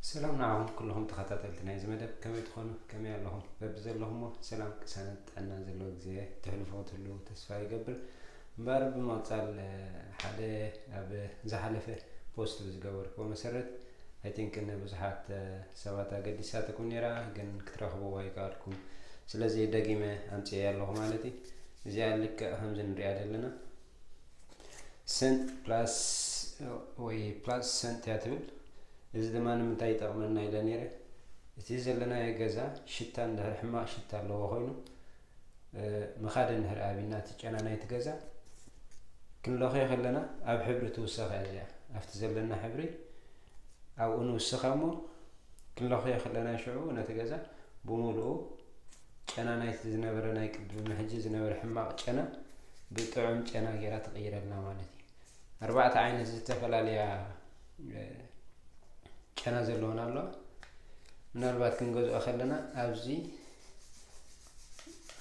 ሰላም ንዓኹም ኩሉኹም ተኸታተልቲ ናይዚ መደብ ከመይ ትኾኑ ከመይ ኣለኹም በብዘለኹሞ ሰላም ቅሳነት ጥዕና ዘለዎ ግዜ ትሕልፉ ክትህልዉ ተስፋ ይገብር እምበር ብምቕጻል ሓደ ኣብ ዝሓለፈ ፖስት ብዝገበርክዎ መሰረት ኣይ ቲንክ ንብዙሓት ሰባት ኣገዲሳትኩም ነይራ ግን ክትረኽብዎ ኣይከኣልኩም ስለዚ ደጊመ ኣምጽኤ ኣለኹ ማለት እዩ እዚኣ ልክዕ ከምዚ ንሪኣ ዘለና ሰንት ፕላስ ወይ ፕላስ ሰንት እያ ትብል እዚ ድማ ንምንታይ ይጠቕመና ኢለ ነይረ እቲ ዘለናዮ ገዛ ሽታ እንድሕር ሕማቕ ሽታ ኣለዎ ኮይኑ ምኻደ እንድሕር ኣብና እቲ ጨና ናይቲ ገዛ ክንለኽዮ ከለና ኣብ ሕብሪ ትውሰኸ እዚኣ ኣብቲ ዘለና ሕብሪ ኣብኡ ንውስኻ እሞ ክንለኽዮ ከለና ሽዑ ነቲ ገዛ ብምሉኡ ጨና ናይቲ ዝነበረ ናይ ቅድም ሕጂ ዝነበረ ሕማቕ ጨና ብጥዑም ጨና ጌራ ትቕይረልና ማለት እዩ ኣርባዕተ ዓይነት ዝተፈላለያ ጨና ዘለዎን ኣለዋ ምናልባት ክንገዝኦ ከለና ኣብዚ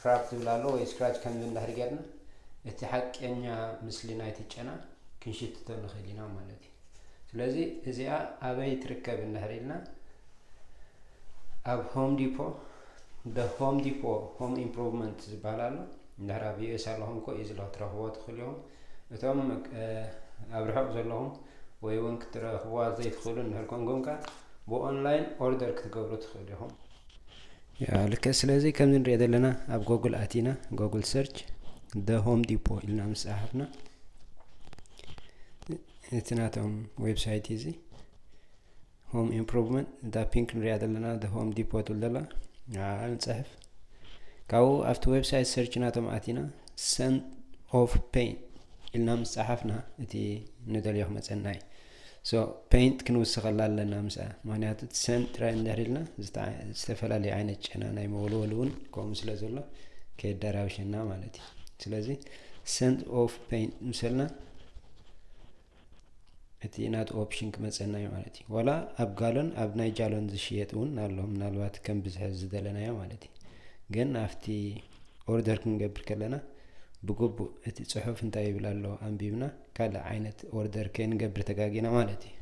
ራፕ ዝብል ኣሎ ወይ ስክራች ከምዚ እንዳሕር ጌርና እቲ ሓቀኛ ምስሊ ናይቲ ጨና ክንሽትቶ ንኽእል ኢና ማለት እዩ ስለዚ እዚኣ ኣበይ ትርከብ እንድሕር ኢልና ኣብ ሆም ዲፖ ደ ሆም ዲፖ ሆም ኢምፕሩቭመንት ዝበሃል ኣሎ እንድሕር ኣብ ዩኤስ ኣለኹም ኮ እዩ ዝለ ክትረኽቦ ትኽእሉ ኢኹም እቶም ኣብ ርሑቕ ዘለኹም ወይ እውን ክትረኽብዋ ዘይትኽእሉ እንድሕር ኮንኩም ከ ብኦንላይን ኦርደር ክትገብሩ ትኽእሉ ኢኹም ልክዕ ስለዚ ከምዚ ንሪኦ ዘለና ኣብ ጎግል ኣቲና ጎግል ሰርች ደ ሆም ዲፖ ኢልና ምስ ጸሓፍና እቲ ናቶም ዌብሳይት እዚ ሆም ኢምፕሮቭመንት እታ ፒንክ ንሪኣ ዘለና ሆም ዲፖ ትብል ዘላ ንዓኣ ንፅሕፍ ካብኡ ኣብቲ ዌብሳይት ሰርች ናቶም ኣቲና ሰን ኦፍ ፔይንት ኢልና ምስ ፀሓፍና እቲ ንደልዮ ክመፀና እዩ ሶ ፔይንት ክንውስኸላ ኣለና ምስ ምክንያቱ እቲ ሰን ጥራይ እንድሕር ኢልና ዝተፈላለዩ ዓይነት ጨና ናይ መወልወል እውን ከምኡ ስለ ዘሎ ከየደራብሸና ማለት እዩ ስለዚ ሰንት ኦፍ ፔን ምሰልና እቲ ናት ኦፕሽን ክመፀና እዩ ማለት እዩ ዋላ ኣብ ጋሎን ኣብ ናይ ጃሎን ዝሽየጥ እውን ኣሎ ምናልባት ከም ብዝሐ ዝደለናዮ ማለት እዩ ግን ኣብቲ ኦርደር ክንገብር ከለና ብግቡእ እቲ ፅሑፍ እንታይ ይብል ኣሎ ኣንቢብና ካልእ ዓይነት ኦርደር ከይንገብር ተጋጊና ማለት እዩ።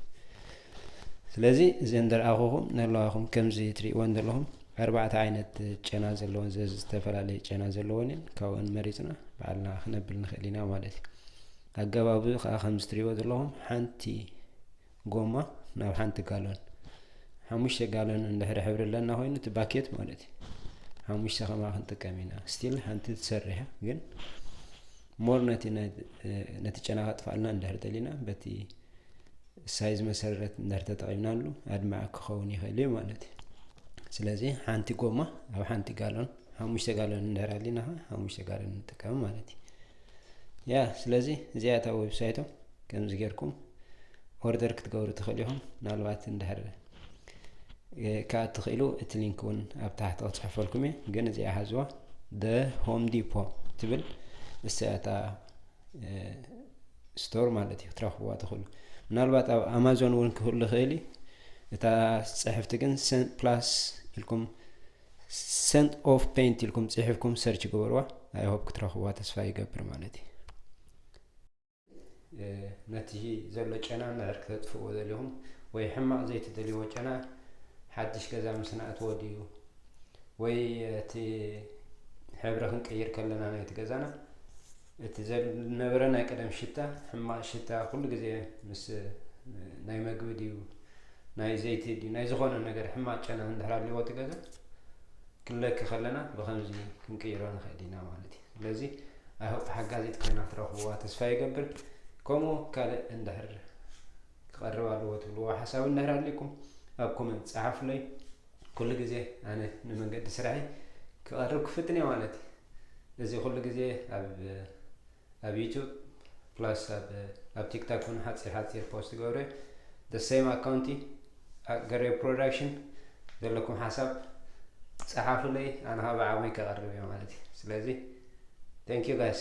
ስለዚ እዘን ዝረኣኹኹም ዘለዋኹም ከምዚ ትርእይወን ዘለኹም ኣርባዕተ ዓይነት ጨና ዘለወን ዘዚ ዝተፈላለየ ጨና ዘለወን እየን። ካብኡን መሪፅና በዓልና ክነብል ንኽእል ኢና ማለት እዩ። ኣገባቡ ከዓ ከምዚ ትርእይዎ ዘለኹም ሓንቲ ጎማ ናብ ሓንቲ ጋሎን ሓሙሽተ ጋሎን እንድሕሪ ሕብሪ ኣለና ኮይኑ እቲ ባኬት ማለት እዩ ሓሙሽተ ከማ ክንጥቀም ኢና ስቲል ሓንቲ ትሰርሕ ግን ሞር ነቲ ነቲ ጨና ከጥፋኣልና እንድሕር ደሊና በቲ ሳይዝ መሰረት እንድሕር ተጠቒምናሉ ኣድማዒ ክኸውን ይኽእል እዩ ማለት እዩ ስለዚ ሓንቲ ጎማ ኣብ ሓንቲ ጋሎን ሓሙሽተ ጋሎን እንድሕር ኣሊና ሓሙሽተ ጋሎን ንጥቀም ማለት እዩ ያ ስለዚ እዚኣ እታ ዌብሳይቶም ከምዚ ጌርኩም ኦርደር ክትገብሩ ትኽእሉ ኢኹም ምናልባት እንድሕር ከዓ እትኽእሉ እቲ ሊንክ እውን ኣብ ታሕቲ ክፅሕፈልኩም እየ ግን እዚኣ ሃዝዋ ደ ሆም ዲፖ ትብል እሰያታ ስቶር ማለት እዩ ክትረኽብዋ ትኽእሉ ምናልባት ኣብ ኣማዞን እውን ክህሉ ይኽእል እዩ እታ ፅሕፍቲ ግን ፕላስ ኢልኩም ሰንት ኦፍ ፔንት ኢልኩም ጽሒፍኩም ሰርች ግበርዋ ኣይ ሆፕ ክትረኽብዋ ተስፋ ይገብር ማለት እዩ ነቲ ዘሎ ጨና ምዕር ክተጥፍእዎ ዘልኹም ወይ ሕማቕ ዘይትደልይዎ ጨና ሓድሽ ገዛ ምስ ናእትዎ ድዩ ወይ እቲ ሕብሪ ክንቅይር ከለና ናይቲ ገዛና እቲ ዘነበረ ናይ ቀደም ሽታ ሕማቅ ሽታ ኩሉ ግዜ ምስ ናይ መግቢ ድዩ ናይ ዘይቲ ድዩ ናይ ዝኾነ ነገር ሕማቅ ጨና እንድሕር ኣለዎ እቲ ገዛ ክንለኪ ከለና ብከምዚ ክንቅይሮ ንኽእል ኢና ማለት እዩ ስለዚ ኣይሆፕ ሓጋዚት ኮይና ክትረኽብዋ ተስፋ ይገብር ከምኡ ካልእ እንድሕር ክቐርብ ኣለዎ ትብልዎ ሓሳብ እንድሕር ኣሊኩም ኣብ ኮመንት ጸሓፉለይ ኩሉ ግዜ ኣነ ንመንገዲ ስራሐይ ክቐርብ ክፍትን እየ ማለት እዩ። እዚ ኩሉ ግዜ ኣብ ኣብ ዩቱብ ፕላስ ኣብ ኣብ ቲክታክ ውን ሓፂር ሓፂር ፖስት ገብረ the same ኣካውንቲ ገሬ ፕሮዳክሽን ዘለኩም ሓሳብ ፀሓፉለይ ኣነ ካብ ዓቕመይ ከቐርብ እየ ማለት እዩ። ስለዚ thank you guys